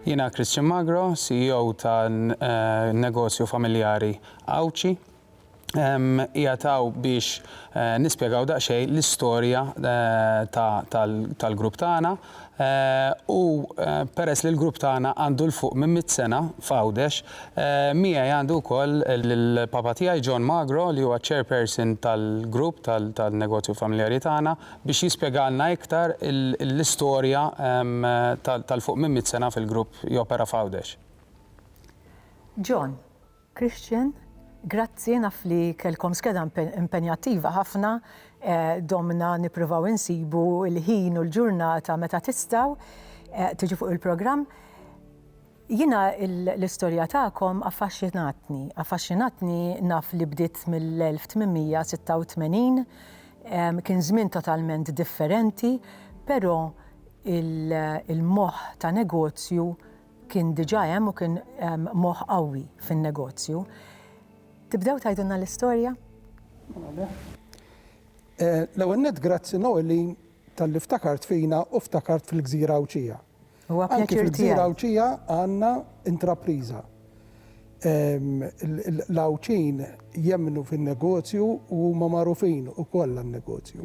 Jiena Christian Magro, CEO ta' negozju familjari Għawdxi. Qiegħed hawn biex nispjegaw daqsxejn l-istorja tal-grupp tagħna u peress li l-grupp tagħna għandu 'l fuq minn mitt sena f'Għawdex, miegħi għandi wkoll lill-papa tiegħi John Magro li huwa ċ-chairperson tal-grupp tan-negozju familjari tagħna. biex jispjegalna iktar l-istorja tal fuq minn mitt sena fil-grupp jopera f'Għawdex. John, Christian, grazzi naf li kellkom skeda impenjattiva ħafna, domna nippruvaw insibu l-ħin u l-ġurnata meta tistgħu tiġu fuq il-programm. Jiena l-istorja tagħkom affaxxinatni. Affaxxinatni naf li bdiet mill-1886, kien żmien totalment differenti, però il-moħħ ta' negozju kien diġà hemm u kien moħħ qawwi fin-negozju. Tibdew tgħidulna l-istorja? L-ewwel nett grazzi Noeline talli ftakart fina u ftakart fil-Gżira Għawdxija. Huwa pjaċir tiegħi. Anki fil-Gżira Għawdxija għandna intrapriża. L-Għawdxin jemmnu fin-negozju u huma magħrufin ukoll għan-negozju.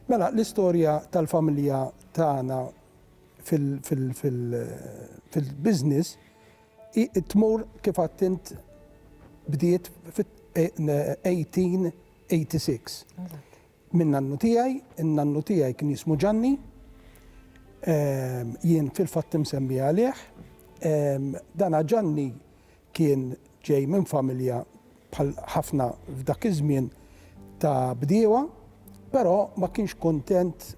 Mela, l-istorja tal-familja tagħna fil-business tmur kif għad int bdiet fit-1886. Minn nannu tiegħi, in-nannu tiegħi kien jismu Ġanni, jien fil-fatt imsemmi għalih. Dana Ġanni kien ġej minn familja bħal ħafna f'dak iż-żmien ta' bdiewa, però ma kienx kuntent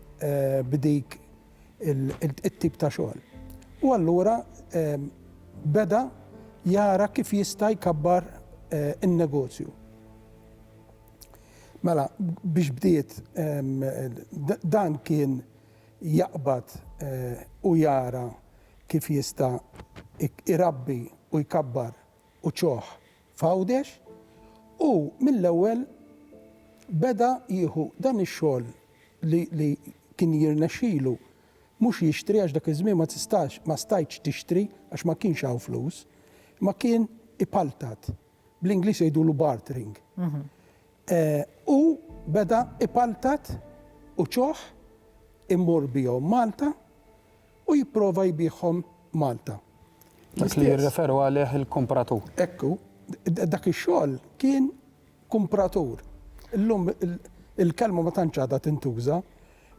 b'dik it-tip ta' xogħol. U allura beda jara kif jista' jkabbar in-negozju. Mela, biex bdiet, dan kien jaqbad u jara kif jista' irabbi u jkabbar uċuħ f'Għawdex u mill-ewwel beda jieħu dan ix-xogħol li kien jirnexxilu mhux jixtri għax dak iż-żmien ma tistax, ma stajtx tixtri għax ma kienx hawn flus, imma kien ipaltat bl-Ingliż jgħidulu bartering, hu beda ipaltat u ċoħ imur bihom Malta u jipprova jbiegħhom Malta. Dak li jirreferu għalih il-kumpratur. Hekk hu. Dak ix-xogħol kien kumpratur. Illum il-kelma ma tantx għadha tintuża,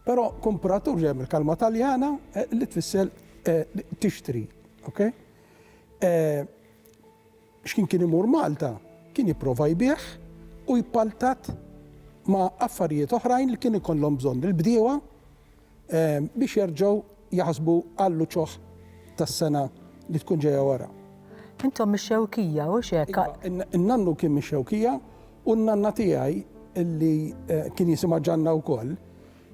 però kumpratur ġej mill-kelma Taljana li tfisser tixtri. Okay? X'kien kien imur Malta kien jipprova jbigħ u jpaltat ma' affarijiet oħrajn li kien ikollhom bżonn il-bdiewa biex jerġgħu jaħsbu għall-uċuħ tas-sena li tkun ġejja wara. Intom mix-Xewkija, hux hekk? Iva, in-nannu kien mix-Xewkija u n-nanna tiegħi li kien jisimha Ġanna wkoll,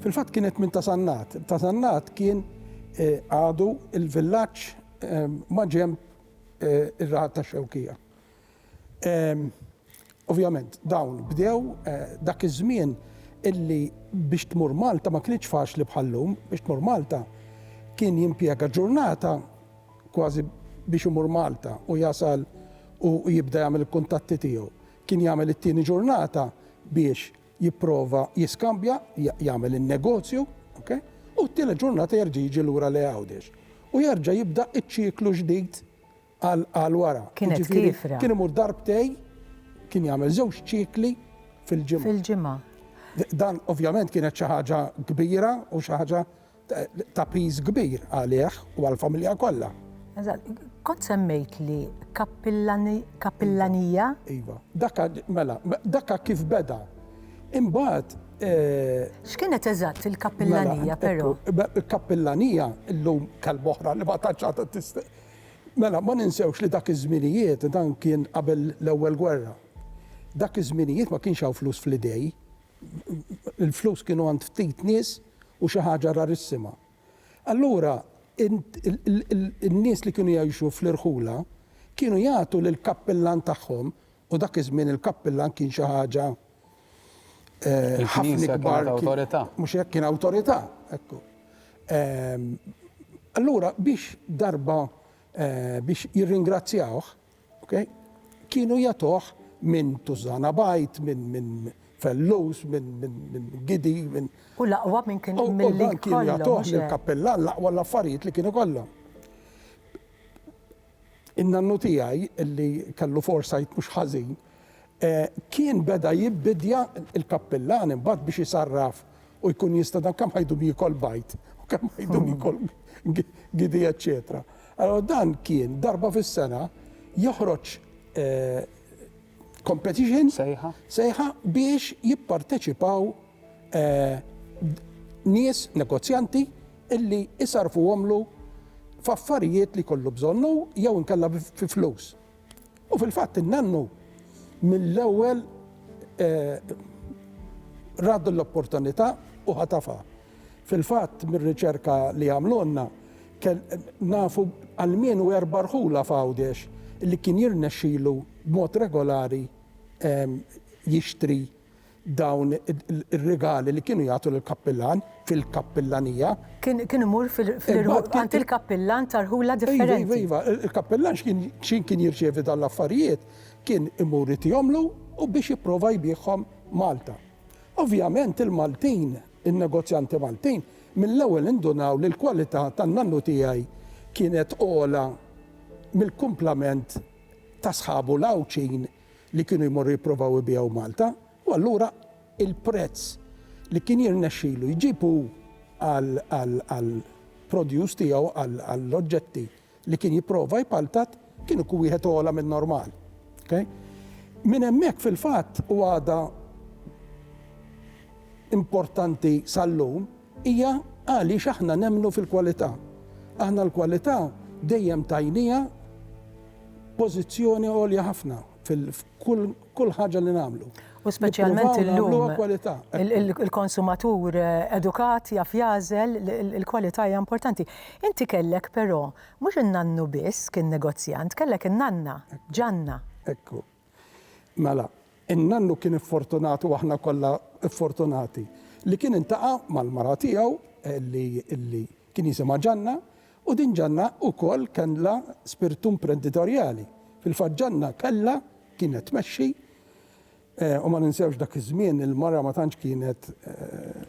fil-fatt kienet minn Ta' Sannat. Ta' Sannat kien għadu l-villaġġ maġenb ir-raħal tax-Xewkija. Ovvjament dawn bdew dak iż-żmien illi biex tmur Malta ma kinitx faċli bħal-lum, biex tmur Malta kien jimpjega ġurnata kważi biex imur Malta u jasal u jibda jagħmel il-kuntatti tiegħu. Kien jagħmel it-tieni ġurnata biex jipprova jiskambja, jagħmel in-negozju, ok, u t-tielet ġurnata jerġa' jiġi lura lejn Għawdex. U jerġa' jibda ċ-ċiklu ġdid għal wara. Kienet Jiġifieri, kiefra. Kien imur darbtejn, kien jagħmel żewġ ċikli fil-ġimgħa. Fil-ġimgħa. Dan ovvjament kienet xi ħaġa kbira u xi ħaġa ta' piż kbir għalih u għall-familja kollha. Eżatt, kont semmejtli kappillani, kappillanija? Iva, dakka mela, dakka kif beda. Imbagħad X'kienet eżatt il-kappillanija però? Il-kappillanija llum kelma oħra li ma tantx għadha tista' Mela, ma ninsewx li dak iż-żminijiet dan kien qabel l-Ewwel Gwerra. Dak iż-żminijiet ma kienx hawn flus fl-idej, il-flus kienu għand ftit nies u xi ħaġa rarissima. Allura in-nies li kienu jgħixu fl-irħula kienu jagħtu lill-kappillan tagħhom, u dak iż-żmien il-kappillan kien xi ħaġa ħafna ikbar, mhux hekk, kien awtorità, ekku. Allura biex darba biex jirringrazzjawh, Okay? Kienu jagħtuh minn Tużżana Bajt, minn min Fellus, minn min, min Gidi, minn. U l-aqwa minn kien mill-li Kienu jagħtuh mill-kappillan l-aqwa l-affarijiet li kienu kollhom. In-nannu tiegħi li kellu foresight mhux ħażin Kien beda jibbidja l-kappillan imbagħad biex isarraf u jkun jista' dan kemm ħajdu jiekol bajd u kemm ħajdu jiekol gidi eċċetera. Allura dan kien darba fis-sena joħroġ competition, sejħa, sejħa biex jipparteċipaw nies negozjanti illi isarrfuhomlu f'affarijiet li jkollu bżonn hu jew inkella fi flus. U fil-fatt in-nannu mill-ewwel ra din l-opportunità u ħatafha. Fil-fatt mir-riċerka li għamlulna nafu almenu erba' rħula f'Għawdex li kien jirnexxilu b'mod regolari jixtri dawn ir-rigali li kienu jagħtu lill-kappillan fil-kappillanija. Kien kien imur fil-irħula għand il-kappillan ta' rħula differenti. Iva, iva, iva, il-kappillan x'kien kien jirċievi dawn l-affarijiet kien imur itihomlu u biex jipprova jbiegħhom Malta. Ovvjament il-Maltin, in-negozjanti Maltin, mill-ewwel indunaw li l-kwalità tan-nannu tiegħi kienet ogħla mill-kumplament ta' sħabu l-Għawdxin li kienu jmorru jipprovaw ibigħu Malta u allura il-prezz li kien jirnexxilu jġib hu għall-produce tiegħu, għall-oġġetti li kien jipprova jpaltat, kien ikun wieħed ogħla min-normal. Okay? Minn hemmhekk fil-fatt u għadha importanti sal-lum, Hija għaliex aħna nemmnu fil-kwalità. Aħna l-kwalità dejjem tajniha pożizzjoni għolja ħafna f'kull ħaġa li nagħmlu. U speċjalment illum il-konsumatur edukat jaf jagħżel il-kwalità hija importanti. Inti kellek però mhux in-nannu biss kien negozjant, kellek in-nanna, Ġanna. Ekku. Mela, in-nannu kien iffortunat u aħna kollha ffortunati li kien intaqa' mal-mara tiegħu li li kien jisimha Ġanna u din Ġanna ukoll kellha spirtu imprenditorjali. Fil-fatt Ġanna kellha kienet tmexxi u ma ninsewx dak iż-żmien il-mara ma tantx kienet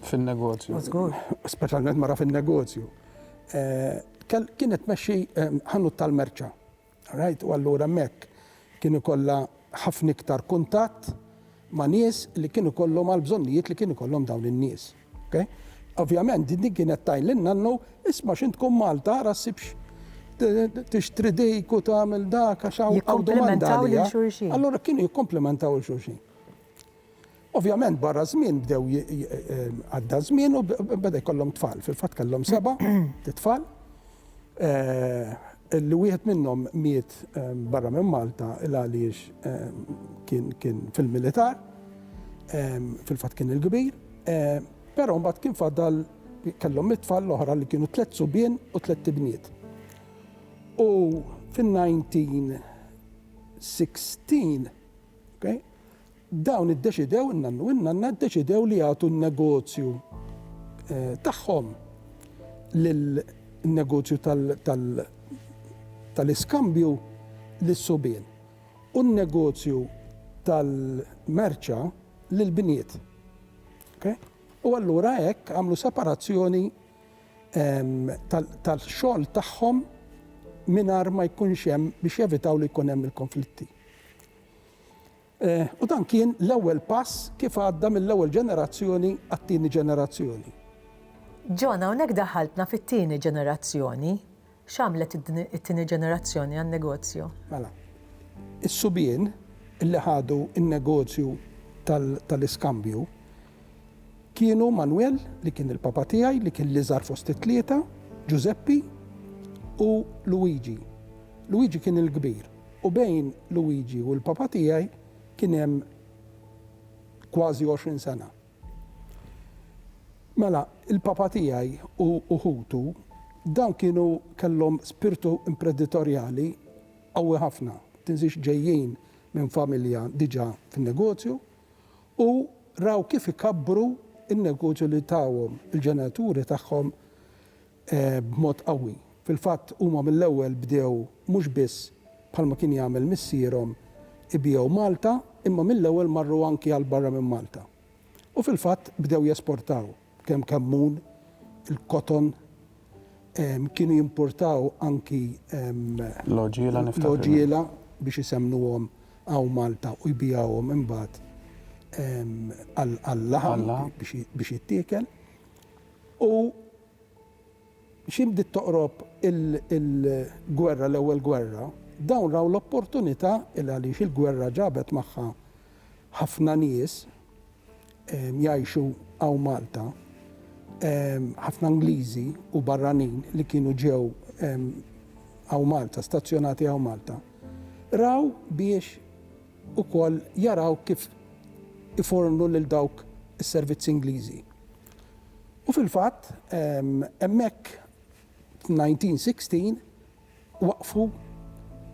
Fin-negozju. Żgur. Speċjalment mara fin-negozju. Kienet tmexxi ħanut tal-merċa. Rajt, u allura hemmhekk kien ikollha ħafna iktar kuntatt ma' nies li kien ikollhom għall-bżonnijiet li kien ikollhom dawn in-nies. Okay? Ovvjament din din kienet tajn lil nannu, isma' x'int tkun Malta ara ssibx tixtri dik u tagħmel dak għax hawn hawn domanda għaliha. Jikkomplimentaw lil xulxin. Allura kienu jikkomplimentaw lil xulxin. Ovvjament barra żmien bdew għadda żmien u beda jkollhom tfal. Fil-fatt kellhom seba' tfal. Li wieħed minnhom miet barra minn Malta il għaliex kien fil-militar. Fil-fatt kien il-kbir. Però mbagħad kien fadal kellhom it-tfal l-oħra li kienu tliet subien u tliet ibniet. U fin-1916 Dawn iddeċidew, in-nannu u n-nanna ddeċidew li jagħtu n-negozju tagħhom lin-negozju tal-iskambju lis-subien u n-negozju tal-merċa lill-bniet. Okej? U allura hekk għamlu separazzjoni tal-xogħol tagħhom mingħajr ma jkunx hemm biex jevitaw li jkun hemm il-konflitti. U dan kien l-ewwel pass kif għadda mill-ewwel ġenerazzjoni għat-tieni ġenerazzjoni. John, hawnhekk daħaltna fit-tieni ġenerazzjoni. X'għamlet it-tieni ġenerazzjoni għan-negozju? Mela, is-subien li ħadu n-negozju tal-iskambju, Kienu Manwel, li kien il-papa tiegħi, li kien l-iżgħar fost it-tlieta, Ġużeppi, u Luwiġi. Luwiġi kien il-kbir, u bejn Luwiġi u l-papa tiegħi kien hemm kważi għoxrin sena. Mela, il-papa tiegħi u u ħutu, dawn kienu kellhom spirtu impreditorjali qawwi ħafna. Tinżix ġejjin minn familja diġà fin-negozju, U raw kif ikabbru n-negozju li tawhom il-ġenituri tagħhom b'mod qawwi. Fil-fatt, huma mill-ewwel bdew mhux biss, bħalma kien jagħmel missierhom, ibiegħu Malta, imma mill-ewwel marru anki għal barra minn Malta. U fil-fatt, bdew jesportaw. Kemm kammun, il-koton, kienu jimpurtaw anki l-għoġiela biex isemmnuhom hawn Malta u jbigħuhom imbagħad għal-laħam biex jittiekel. U x'imkien bdiet toqrob il-gwerra, l-ewwel gwerra, dawn raw l-opportunità, il-għaliex il-gwerra ġabet magħha ħafna nies, jgħixu hawn Malta ħafna Ingliżi u barranin li kienu ġew hawn Malta, stazzjonati hawn Malta, raw biex ukoll jaraw kif ifornu lil dawk is-servizzi Ingliżi. U fil-fatt hemmhekk 1916 waqqfu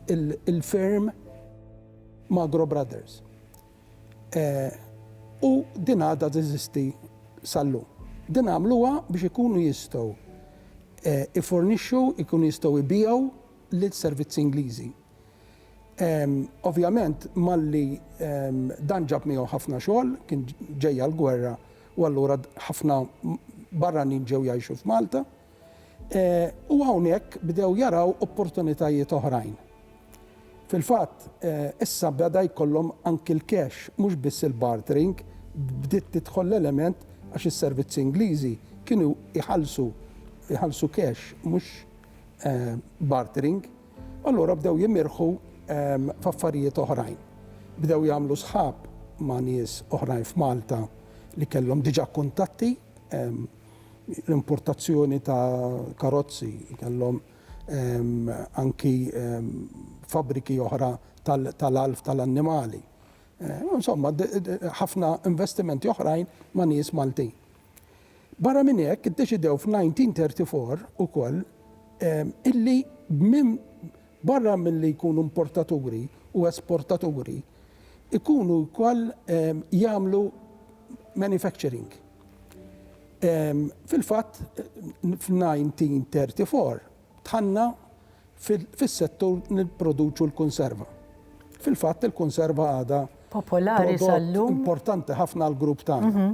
l-firm Magro Brothers u din għadha teżisti sal-lum. Din għamluha biex ikunu jistgħu jfornixxu, ikunu jistgħu jbigħu l-servizzi Ingliżi. Ovvjament malli dan ġab miegħu ħafna xogħol, kien ġejja l-gwerra u allura ħafna barranin ġew jgħixu f'Malta. u hawnhekk bdew jaraw opportunitajiet oħrajn. Fil-fatt, issa beda jkollhom anki l-cash, mhux biss il-bartering, bdiet tidħol l-element għax is-servizzi Ingliżi kienu jħallsu jħallsu cash, mhux bartering. U allura bdew jimirħu f'affarijiet oħrajn. Bdew jagħmlu sħab ma' nies oħrajn f'Malta li kellhom diġà kuntatti. l-importazzjoni ta' karozzi, kellhom anki fabbriki oħra tal-għalf tal-annimali. Insomma, ħafna investimenti oħrajn ma' nies Maltin. Barra minn hekk, iddeċidew f'1934 ukoll illi minn barra milli jkunu importaturi u esportaturi, ikunu wkoll jagħmlu manufacturing. Fil-fatt, f'1934 dħalna fis-settur nipproduċu l-kunserva. Fil-fatt, il-kunserva għadha prodott importanti ħafna għall-grupp tagħna.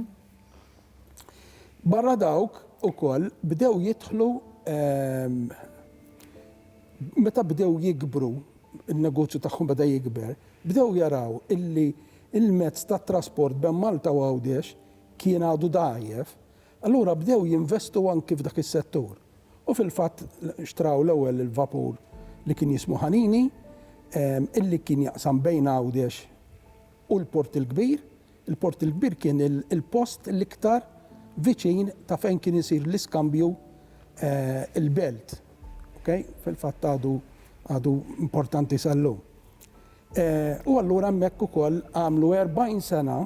Barra dawk ukoll bdew jidħlu, meta bdew jikbru, in-negozju tagħhom beda jikber, bdew jaraw illi l-mezz tat-trasport bejn Malta u Għawdex kien għadu dgħajjef, allura bdew jinvestu anki f'dak is-settur u fil-fatt xtraw l-ewwel il-vapur li kien jismu Ħanini illi kien jaqsam bejn Għawdex u l-Port il-Kbir. Il-Port il-Kbir kien il-post l-iktar viċin ta' fejn kien isir l-iskambju il-belt. Okay? Fil-fatt għadu għadu importanti sal-lum. U allura hemmhekk ukoll għamlu 40 sena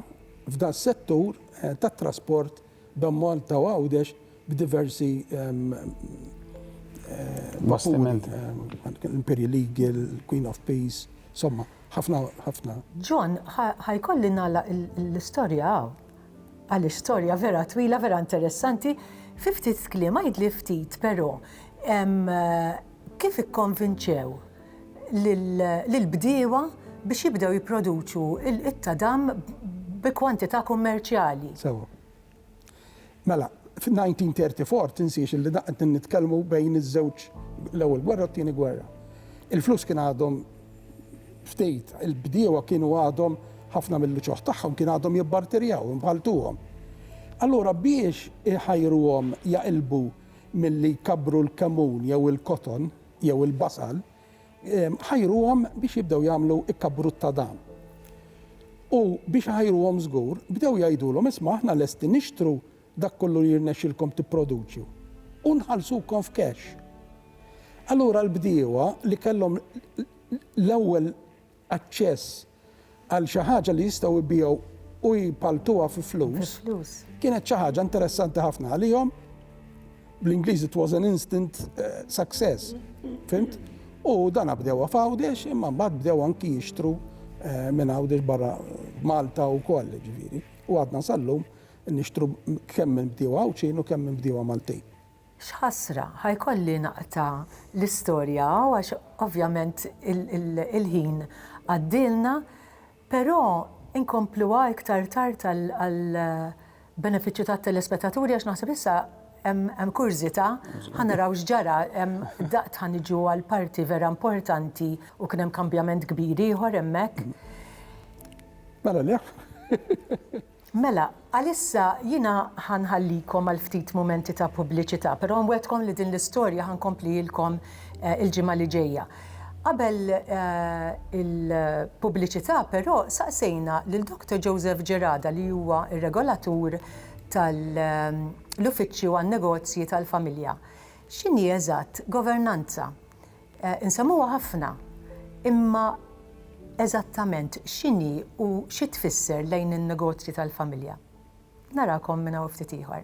f'das-settur tat-trasport bejn Malta u Għawdex b'diversi vapuri, l-Imperial Eagle, il-Queen of Peace, insomma, ħafna, ħafna. John, ħa jkolli nagħlaq l-istorja hawn, għaliex storja vera twila, vera interessanti. Fi ftit kliem, għidli ftit, però, Kif ikkonvinċew lill-bdiewa biex jibdew jipproduċu t-tadam bi kwantità kummerċjali? Sewwa. Mela, fin-1934, tinsiex li dan qed nitkellmu bejn iż-żewġ, l-Ewwel Gwerra u t-Tieni Gwerra. Il-flus kien għadhom ftit, il-bdiewa kienu għadhom, ħafna mill-uċuħ tagħhom kien għadhom jibbarterjaw, imħalltuhom. Allura biex iħajruhom jaqilbu milli jkabbru l-kemun jew il-koton jew il-basal, ħajruhom biex jibdew jagħmlu kkabbrutt ta' dan. U biex iħajruhom żgur, bdew jgħidulhom, isma' aħna lesti nixtru dak kollu li jirnexxilkom tipproduċju u nħallsukom f'cash. Allura l-bdiewa li kellhom l-ewwel aċċess għal xi ħaġa li jistgħu jbigħu u jpalltuha fi flus, kienet xi ħaġa interessanti ħafna għalihom, bl-Ingliż it was an instant success, fhimt? U dana bdewha f'Għawdex imma mbagħad bdew anki jixtru minn Għawdex barra Malta wkoll ġifieri. U għadna sal-lum nixtru kemm minn bdiewa Għawdxin u kemm minn bdiewa Maltin. X'ħasra, ħa jkolli naqta' l-istorja hawn għax ovvjament il-ħin għaddielna, però nkompluha iktar tard għall-benefiċċju tat-telespetaturi għax naħseb issa hemm kurżità, ħa naraw x'ġara, daqt ħa niġu għall-parti vera importanti u kien hemm kambjament kbir ieħor hemmhekk. Mela le. Mela, għalissa jiena ħa nħallikom għal ftit mumenti ta' pubbliċità, però nwegħdkom li din l-istorja ħa nkomplihielkom il-ġimgħa li ġejja. Qabel il-pubbliċità, però, saqsejna lil Doctor Joseph Gerada li huwa r-Regolatur tal-Uffiċċju għan-Negozji tal-Familja x'inhi eżatt governanza. Insemmuha ħafna, imma eżattament x'inhi u xi tfisser lejn in-negozji tal-familja? Narakom minn hawn ftit ieħor.